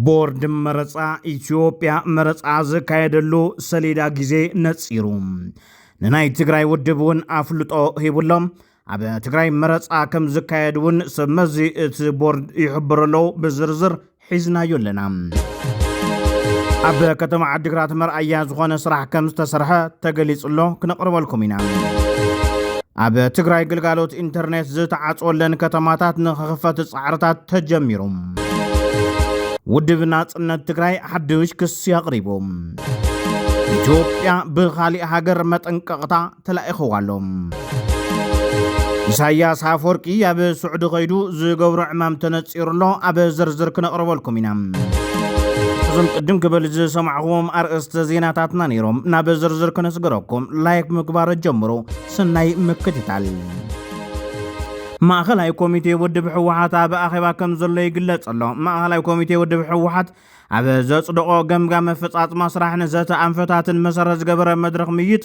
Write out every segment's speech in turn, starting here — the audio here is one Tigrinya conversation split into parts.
ቦርድ መረፃ ኢትዮጵያ መረፃ ዘካየደሉ ሰሌዳ ግዜ ነፂሩ ንናይ ትግራይ ውድብ እውን ኣፍልጦ ሂቡሎም ኣብ ትግራይ መረፃ ከም ዝካየድ እውን ሰብመዚ እቲ ቦርድ ይሕብሩ ኣለዉ ብዝርዝር ሒዝናዮ ኣለና። ኣብ ከተማ ዓዲግራት መርኣያ ዝኾነ ስራሕ ከም ዝተሰርሐ ተገሊጹ ኣሎ፣ ክነቕርበልኩም ኢና። ኣብ ትግራይ ግልጋሎት ኢንተርኔት ዝተዓጽወለን ከተማታት ንክኽፈት ጻዕርታት ተጀሚሩ። ውድብ ናጽነት ትግራይ ሓድሽ ክሲ ኣቕሪቡ። ኢትዮጵያ ብኻሊእ ሃገር መጠንቀቕታ ተላኢኸዋ ኣሎ። ኢሳያስ ኣፈወርቂ ኣብ ስዑዲ ከይዱ ዝገብሮ ዕማም ተነፂሩ ኣሎ ኣብ ዝርዝር ክነቕርበልኩም ኢና እዞም ቅድም ክብል ዝሰማዕኹዎም ኣርእስተ ዜናታትና ነይሮም ናብ ዝርዝር ክነስገረኩም ላይክ ምግባር ጀምሩ ስናይ ምክትታል ማእኸላይ ኮሚቴ ውድብ ህወሓት ኣብ ኣኼባ ከም ዘሎ ይግለጽ ኣሎ ማእኸላይ ኮሚቴ ውድብ ህወሓት ኣብ ዘጽደቖ ገምጋም ኣፈጻጽማ ስራሕ ንዘተ ኣንፈታትን መሰረት ዝገበረ መድረኽ ምይጥ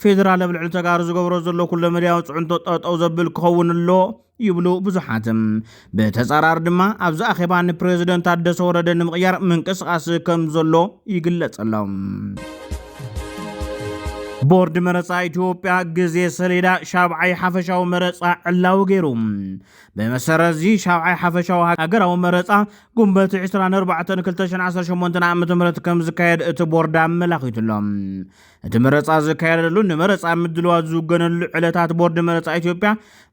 ፌደራል ኣብ ልዕሊ ተጋሩ ዝገብሮ ዘሎ ኩለ መዳያዊ ፅዕንቶ ጠጠው ዘብል ክኸውን ኣሎ ይብሉ ብዙሓት። ብተፃራሪ ድማ ኣብዚ ኣኼባ ንፕሬዚደንት ታደሰ ወረደ ንምቕያር ምንቅስቓስ ከም ዘሎ ይግለጸሎም። ቦርድ መረፃ ኢትዮጵያ ግዜ ሰሌዳ ሻብዓይ ሓፈሻዊ መረፃ ዕላዊ ገይሩ ብመሰረት እዚ ሻብዓይ ሓፈሻዊ ሃገራዊ መረፃ ጉንበት 24 2018 ዓ ም ከም ዝካየድ እቲ ቦርድ ኣመላኺቱሎም እቲ መረፃ ዝካየደሉ ንመረፃ ምድልዋት ዝውገነሉ ዕለታት ቦርድ መረፃ ኢትዮጵያ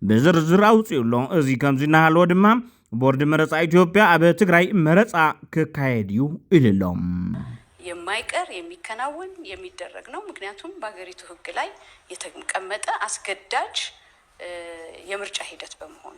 ብዝርዝር ኣውፅኡ ኣሎ። እዚ ከምዚ እናሃለወ ድማ ቦርድ መረፃ ኢትዮጵያ ኣብ ትግራይ መረፃ ክካየድ እዩ ኢሉ ኣሎ። የማይቀር የሚከናወን የሚደረግ ነው ምክንያቱም በሀገሪቱ ህግ ላይ የተቀመጠ አስገዳጅ የምርጫ ሂደት በመሆኑ።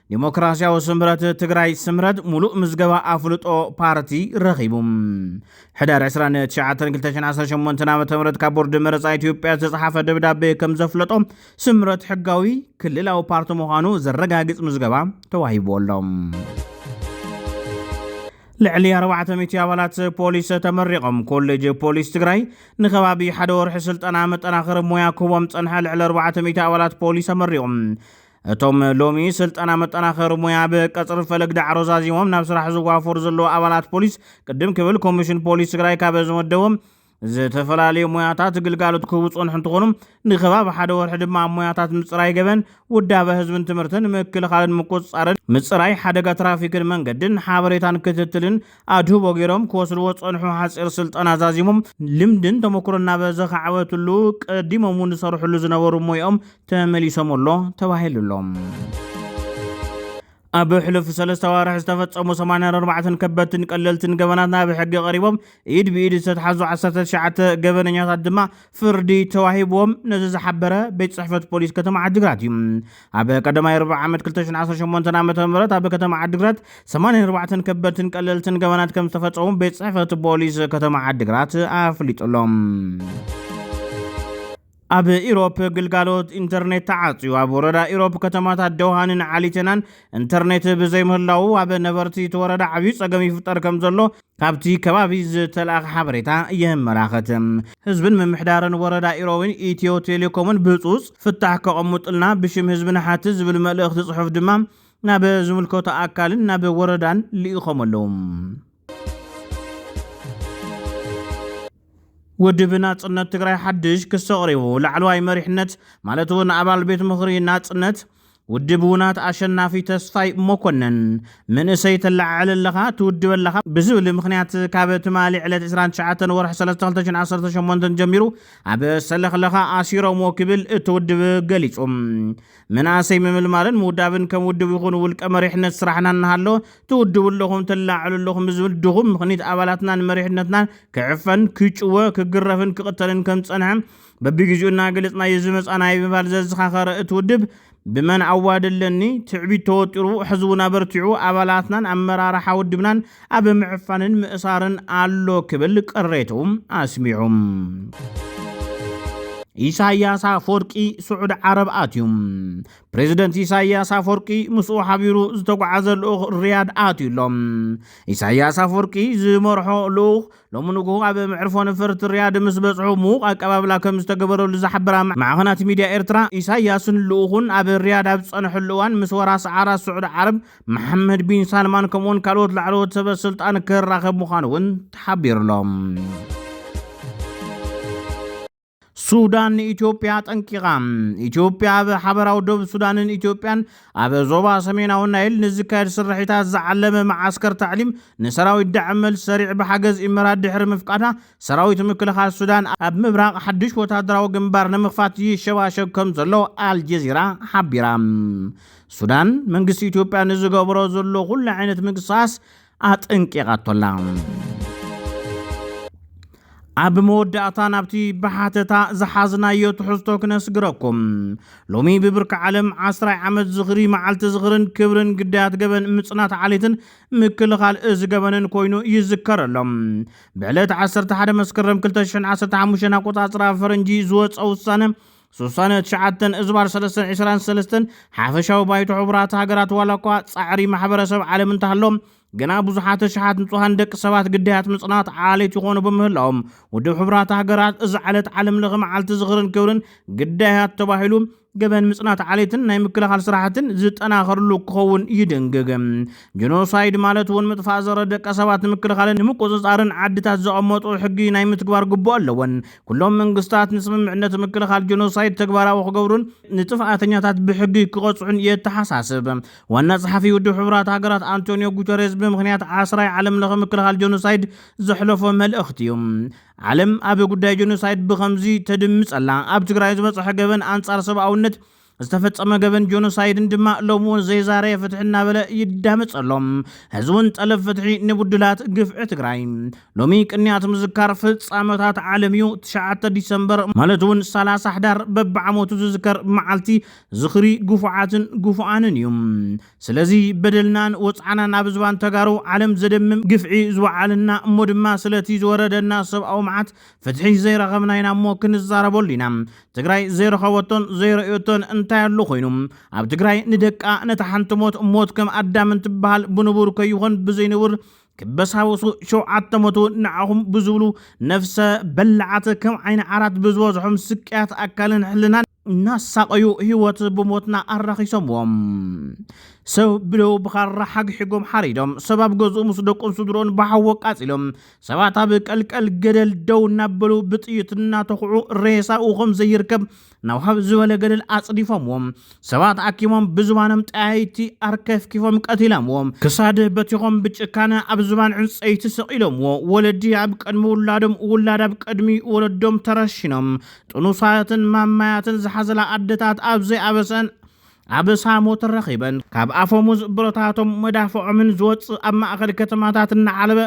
ዴሞክራሲያዊ ስምረት ትግራይ ስምረት ሙሉእ ምዝገባ ኣፍልጦ ፓርቲ ረኺቡ። ሕዳር 29 2018 ዓ ም ካብ ቦርድ መረፃ ኢትዮጵያ ዝተፅሓፈ ደብዳቤ ከም ዘፍለጦ ስምረት ሕጋዊ ክልላዊ ፓርቲ ምዃኑ ዘረጋግፅ ምዝገባ ተዋሂቡ ኣሎ። ልዕሊ 400 ኣባላት ፖሊስ ተመሪቖም ኮሌጅ ፖሊስ ትግራይ ንከባቢ ሓደ ወርሒ ስልጠና መጠናኸሪ ሞያ ክህቦም ፀንሐ ልዕሊ 400 ኣባላት ፖሊስ ተመሪቖም እቶም ሎሚ ስልጠና መጠናኸሪ ሙያ ብቀፅሪ ፈለግ ዳዕሮ ዛዚሞም ናብ ስራሕ ዝዋፈሩ ዘለዉ ኣባላት ፖሊስ ቅድም ክብል ኮሚሽን ፖሊስ ትግራይ ካበ ዝመደቦም ዝተፈላለዩ ሞያታት ግልጋሎት ክህቡ ዝፀንሑ እንትኾኑ ንከባቢ ሓደ ወርሒ ድማ ኣብ ሞያታት ምፅራይ ገበን፣ ውዳበ ህዝብን ትምህርትን፣ ምክልኻልን ምቁፅፃርን፣ ምፅራይ ሓደጋ ትራፊክን መንገድን፣ ሓበሬታን ክትትልን፣ ኣድህቦ ገይሮም ክወስድዎ ዝጸንሑ ሓጺር ስልጠና ዛዚሞም፣ ልምድን ተመኩሮን ናብ ዘኻዕበትሉ ቀዲሞም እውን ዝሰርሕሉ ዝነበሩ ሞይኦም ተመሊሶም ኣሎ ተባሂሉ ኣሎ። ኣብ ሕሉፍ ሰለስተ ኣዋርሕ ዝተፈጸሙ 84 ከበድትን ቀለልትን ገበናት ናብ ሕጊ ቀሪቦም ኢድ ብኢድ ዝተትሓዙ ዓሰርተ ትሽዓተ ገበነኛታት ድማ ፍርዲ ተዋሂብዎም ነዚ ዝሓበረ ቤት ጽሕፈት ፖሊስ ከተማ ዓዲግራት እዩ። ኣብ ቀዳማይ ርብዒ ዓመት 2018 ዓ ም ኣብ ከተማ ዓዲግራት 84 ከበድትን ቀለልትን ገበናት ከም ዝተፈጸሙ ቤት ጽሕፈት ፖሊስ ከተማ ዓዲግራት ኣፍሊጡ ኣሎ። ኣብ ኢሮፕ ግልጋሎት ኢንተርኔት ተዓፅዩ ኣብ ወረዳ ኢሮፕ ከተማታት ደውሃንን ዓሊቴናን ኢንተርኔት ብዘይምህላዉ ኣብ ነበርቲ እቲ ወረዳ ዓብዩ ፀገም ይፍጠር ከም ዘሎ ካብቲ ከባቢ ዝተላእኸ ሓበሬታ የመላኸት። ህዝብን ምምሕዳርን ወረዳ ኢሮብን ኢትዮ ቴሌኮምን ብህፁፅ ፍታሕ ከቐሙጥልና ብሽም ህዝቢ ንሓትት ዝብል መልእኽቲ ፅሑፍ ድማ ናብ ዝምልከቶ ኣካልን ናብ ወረዳን ልኢኾም ኣለው። ውድብ ናፅነት ትግራይ ሓድሽ ክሲ ኣቕሪቡ። ላዕለዋይ መሪሕነት ማለት እውን ኣባል ቤት ምኽሪ ናፅነት ውድብ ውናት ኣሸናፊ ተስፋይ ሞኮነን፣ መንእሰይ ተለዓዕል ኣለኻ፣ ትውድብ ኣለኻ ብዝብል ምኽንያት ካብ ትማሊ ዕለት ዕስራን ትሽዓተን ወርሒ ሰለስተ ክልተ ሽሕን ዓሰርተ ሸሞንተን ጀሚሩ ኣብ ሰለኽለኻ ኣሲሮምዎ ክብል እቲ ውድብ ገሊፁ። መናእሰይ ምምልማልን ምውዳብን ከም ውድብ ይኹን ውልቀ መሪሕነት ስራሕና እናሃለወ ትውድቡ ኣለኹም፣ ተለዓዕሉ ኣለኹም ብዝብል ድኹም ምኽኒት ኣባላትናን መሪሕነትናን ክዕፈን፣ ክጭወ፣ ክግረፍን ክቕተልን ከምዝፀንሐ በብጊዜኡ እናገለጽናዮ ዝመጻእናዮ ብምባል ዘዘኻኸረ እቲ ውድብ፣ ብመን ኣዋዲ ኣለኒ ትዕቢት ተወጢሩ ሕዝቡን ኣበርቲዑ ኣባላትናን ኣመራርሓ ውድብናን ኣብ ምዕፋንን ምእሳርን ኣሎ ክብል ቅሬትኡ ኣስሚዑ። ኢሳይያስ ኣፍወርቂ ስዑድ ዓረብ ኣትዩ። ፕሬዚደንት ኢሳይያስ ኣፍወርቂ ምስኡ ሓቢሩ ዝተጓዓዘ ልኡኽ ሪያድ ኣትዩ ኣሎ። ኢሳይያስ ኣፍወርቂ ዝመርሖ ልኡኽ ሎሚ ንጉሆ ኣብ መዕርፎ ነፈርቲ ሪያድ ምስ በጽሑ ምዉቕ ኣቀባብላ ከም ዝተገበረሉ ዝሓበራ ማዕኸናት ሚድያ ኤርትራ፣ ኢሳይያስን ልኡኹን ኣብ ሪያድ ኣብ ዝጸንሕሉ እዋን ምስ ወራሲ ዓራት ስዑዲ ዓረብ መሓመድ ቢን ሳልማን ከምኡ'ውን ካልኦት ላዕለዎት ሰበ ስልጣን ክራኸብ ምዃኑ'ውን ተሓቢሩ'ሎ። ሱዳን ንኢትዮጵያ ጠንቂቓ። ኢትዮጵያ ኣብ ሓበራዊ ዶብ ሱዳንን ኢትዮጵያን ኣብ ዞባ ሰሜናዊ ናይል ንዝካየድ ስርሒታት ዝዓለመ መዓስከር ታዕሊም ንሰራዊት ዳዕም መልሲ ሰሪዕ ብሓገዝ ኢመራት ድሕሪ ምፍቃዳ ሰራዊት ምክልኻል ሱዳን ኣብ ምብራቕ ሓድሽ ወታደራዊ ግንባር ንምኽፋት ይሸባሸብ ከም ዘሎ ኣልጀዚራ ሓቢራ። ሱዳን መንግስቲ ኢትዮጵያ ንዝገብሮ ዘሎ ኩሉ ዓይነት ምንቅስቓስ ኣጠንቂቓቶ ኣላ። ኣብ መወዳእታ ናብቲ ብሓተታ ዝሓዝናዮ ትሕዝቶ ክነስግረኩም ሎሚ ብብርኪ ዓለም ዓስራይ ዓመት ዝኽሪ መዓልቲ ዝኽርን ክብርን ግዳያት ገበን ምፅናት ዓሌትን ምክልኻል እዚ ገበንን ኮይኑ ይዝከር ኣሎ ብዕለት 11 መስከረም 215 ኣቆፃፅራ ፈረንጂ ዝወፀ ውሳነ ስሳን ትሽዓተን እዝባር ሰለስተን ዕስራን ሰለስተን ሓፈሻዊ ባይቶ ሕቡራት ሃገራት ዋላ እኳ ጻዕሪ ማሕበረሰብ ዓለም እንተሃሎ ግና ብዙሓት ኣሽሓት ንጹሃን ደቂ ሰባት ግዳያት ምጽናት ዓሌት ይኾኑ ብምህላዎም ውድብ ሕቡራት ሃገራት እዚ ዕለት ዓለም ለኸ መዓልቲ ዝኽርን ክብርን ግዳያት ተባሂሉ ገበን ምጽናት ዓሌትን ናይ ምክልኻል ስራሕትን ዝጠናኸርሉ ክኸውን ይድንግግ። ጀኖሳይድ ማለት እውን ምጥፋእ ዘረ ደቂ ሰባት ንምክልኻልን ንምቁፅፃርን ዓድታት ዘቐመጡ ሕጊ ናይ ምትግባር ግቡእ ኣለወን። ኩሎም መንግስታት ንስምምዕነት ምክልኻል ጀኖሳይድ ተግባራዊ ክገብሩን ንጥፍኣተኛታት ብሕጊ ክቐፅዑን የተሓሳስብ። ዋና ፀሓፊ ውድብ ሕቡራት ሃገራት ኣንቶንዮ ጉተሬዝ ብምኽንያት ዓስራይ ዓለም ለኸ ምክልኻል ጀኖሳይድ ዘሕለፎ መልእኽቲ እዩ። ዓለም ኣብ ጉዳይ ጀኖሳይድ ብኸምዚ ተድምፅ ኣላ። ኣብ ትግራይ ዝበፀሐ ገበን ኣንፃር ሰብኣውነት ዝተፈጸመ ገበን ጆኖሳይድን ድማ ሎሚ እውን ዘይዛረየ ፍትሒ እናበለ ይዳመፅ ኣሎ። ሕዚ እውን ጠለብ ፍትሒ ንቡድላት ግፍዒ ትግራይ። ሎሚ ቅንያት ምዝካር ፍፃመታት ዓለም እዩ። ትሽዓተ ዲሰምበር ማለት እውን ሰላሳ ሕዳር በብዓመቱ ዝዝከር መዓልቲ ዝኽሪ ግፉዓትን ግፉኣንን እዩ። ስለዚ በደልናን ወፅዓናን ኣብ ዝባን ተጋሩ ዓለም ዘደምም ግፍዒ ዝወዓልና እሞ ድማ ስለቲ ዝወረደና ሰብኣዊ መዓት ፍትሒ ዘይረኸብና ኢና እሞ ክንዛረበሉ ኢና። ትግራይ ዘይረኸበቶን ዘይረእዮቶን እንታይ ኣሎ ኮይኑ? ኣብ ትግራይ ንደቃ ነታ ሓንቲ ሞት ሞት ከም ኣዳም እንትበሃል ብንቡር ከይኾን ብዘይንቡር ክበሳበሱ ሸውዓተ ሞቱ ንዓኹም ብዝብሉ ነፍሰ በላዓት ከም ዓይኒ ዓራት ብዝበዝሖም ስቅያት ኣካልን ሕልናን እናሳቐዩ ህይወት ብሞትና ኣራኺሶምዎ። ሰብ ብደው ብኻራ ሓግሒጎም ሓሪዶም፣ ሰብ ኣብ ገዝኡ ምስ ደቁን ስድሮን ብሓዊ ኣቃጺሎም፣ ሰባት ኣብ ቀልቀል ገደል ደው እናበሉ ብጥይት እናተኹዑ ሬሳኡ ከም ዘይርከብ ናብ ሃብ ዝበለ ገደል ኣጽዲፎምዎ። ሰባት ኣኪሞም ብዝባኖም ጠያይቲ ኣርከፍኪፎም ቀቲሎምዎ። ክሳድ በቲኾም ብጭካነ ኣብ ዝባን ዕንጸይቲ ሰቒሎምዎ። ወለዲ ኣብ ቅድሚ ውላዶም፣ ውላድ ኣብ ቅድሚ ወለዶም ተረሺኖም፣ ጥኑሳትን ማማያትን ዝሓዘላ ኣደታት ኣብ ዘይኣበሰን ኣበሳ ሞት ረኺበን ካብ ኣፈሙዝ ብረታቶም መዳፍዖምን ዝወጽእ ኣብ ማእኸል ከተማታት እናዓለበ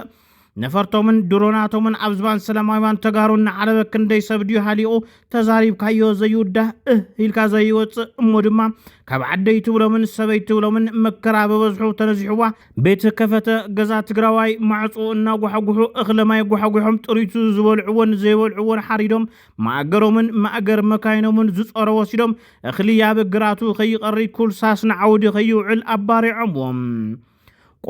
ነፈርቶምን ድሮናቶምን ኣብ ዝባን ሰላማዊያን ተጋሩ እናዓለበ ክንደይ ሰብ ድዩ ሃሊቑ ተዛሪብካዮ ዘይውዳህ እህ ኢልካ ዘይወጽእ እሞ ድማ ካብ ዓደይ ትብሎምን ሰበይ ትብሎምን መከራ በበዝሑ ተነዚሑዋ ቤት ከፈተ ገዛ ትግራዋይ ማዕፁ እናጓሓጉሑ እኽለማይ ጓሓጒሖም ጥሪቱ ዝበልዕዎን ዘይበልዕዎን ሓሪዶም ማእገሮምን ማእገር መካይኖምን ዝፀሮ ወሲዶም እኽሊ ኣብ ግራቱ ከይቐሪ ኩልሳስ ንዓውዲ ከይውዕል ኣባሪዖምዎም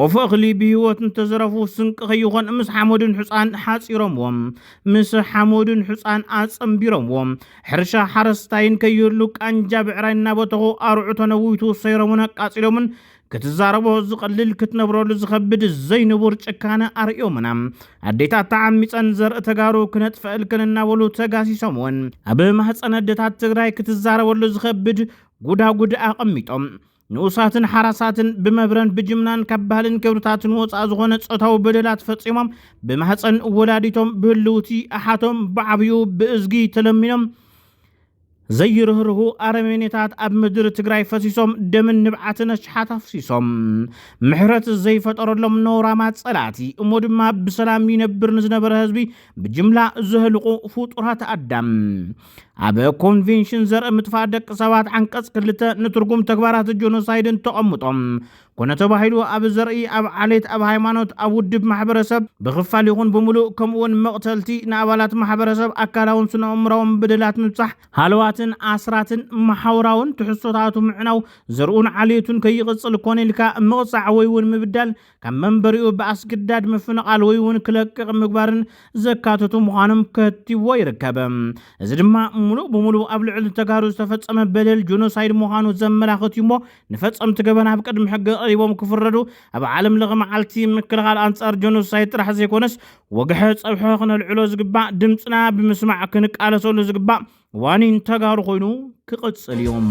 ቆፎ እኽሊ ብህይወት እንተዘረፉ ስንቂ ከይኾን ምስ ሓመዱን ሕፃን ሓፂሮምዎም ምስ ሓመዱን ሕፃን ኣፀምቢሮምዎም ሕርሻ ሓረስታይን ከይህሉ ቃንጃ ብዕራይ እናበተኹ ኣርዑ ተነዊቱ ሰይሮምን ኣቃፂሎምን ክትዛረቦ ዝቐልል ክትነብረሉ ዝኸብድ ዘይንቡር ጭካነ ኣርእዮምና ኣዴታት ተዓሚፀን ዘርኢ ተጋሩ ክነጥፈእልክን እናበሉ ተጋሲሶም እውን ኣብ ማህፀን ኣዴታት ትግራይ ክትዛረበሉ ዝኸብድ ጉዳጉድ ኣቐሚጦም ንኡሳትን ሓራሳትን ብመብረን ብጅምላን ካብ ባህልን ክብርታትን ወፃእ ዝኾነ ፆታዊ በደላት ፈፂሞም ብማህፀን ወላዲቶም ብህልውቲ ኣሓቶም ብዓብኡ ብእዝጊ ተለሚኖም ዘይርህርሁ ኣረሜኔታት ኣብ ምድሪ ትግራይ ፈሲሶም ደምን ንብዓትን ኣሽሓት ኣፍሲሶም ምሕረት ዘይፈጠረሎም ነውራማ ጸላእቲ እሞ ድማ ብሰላም ይነብር ንዝነበረ ህዝቢ ብጅምላ ዘህልቑ ፍጡራት ኣዳም ኣብ ኮንቬንሽን ዘርኢ ምጥፋእ ደቂ ሰባት ዓንቀጽ ክልተ ንትርጉም ተግባራት ጆኖሳይድን ተቐምጦም ኮነ ተባሂሉ ኣብ ዘርኢ፣ ኣብ ዓሌት፣ ኣብ ሃይማኖት፣ ኣብ ውድብ ማሕበረሰብ፣ ብኽፋል ይኹን ብምሉእ፣ ከምኡ'ውን መቕተልቲ፣ ንኣባላት ማሕበረሰብ ኣካላውን ስነኣእምሮኣውን በደላት ምብጻሕ፣ ሃለዋትን ኣስራትን፣ መሓውራውን ትሕዝቶታቱ ምዕናው፣ ዘርኡን ዓሌቱን ከይቕጽል ኮነ ኢልካ ምቕጻዕ ወይ'ውን ምብዳል፣ ካብ መንበሪኡ ብኣስግዳድ ምፍንቓል ወይ'ውን ክለቅቕ ምግባርን ዘካተቱ ምዃኖም ከትቲዎ ይርከብ። እዚ ድማ ምሉእ ብምሉእ ኣብ ልዕሊ ተጋሩ ዝተፈጸመ በደል ጆኖሳይድ ምዃኑ ዘመላኽት እዩ'ሞ ንፈጸምቲ ገበን ኣብ ቅድሚ ሕጊ ቀሪቦም ክፍረዱ ኣብ ዓለም ለኸ መዓልቲ ምክልኻል ኣንጻር ጀኖሳይድ ጥራሕ ዘይኮነስ ወግሐ ጸብሐ ክነልዕሎ ዝግባእ ድምፅና ብምስማዕ ክንቃለሰሉ ዝግባእ ዋኒን ተጋሩ ኮይኑ ክቕጽል እዮም።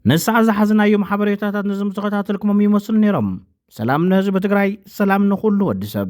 ንሳዕ ዝሓዝናዮም ሓበሬታታት ነዞም ዝተኸታተልኩሞም ይመስሉ ነይሮም። ሰላም ንህዝቢ ትግራይ፣ ሰላም ንኹሉ ወዲ ሰብ።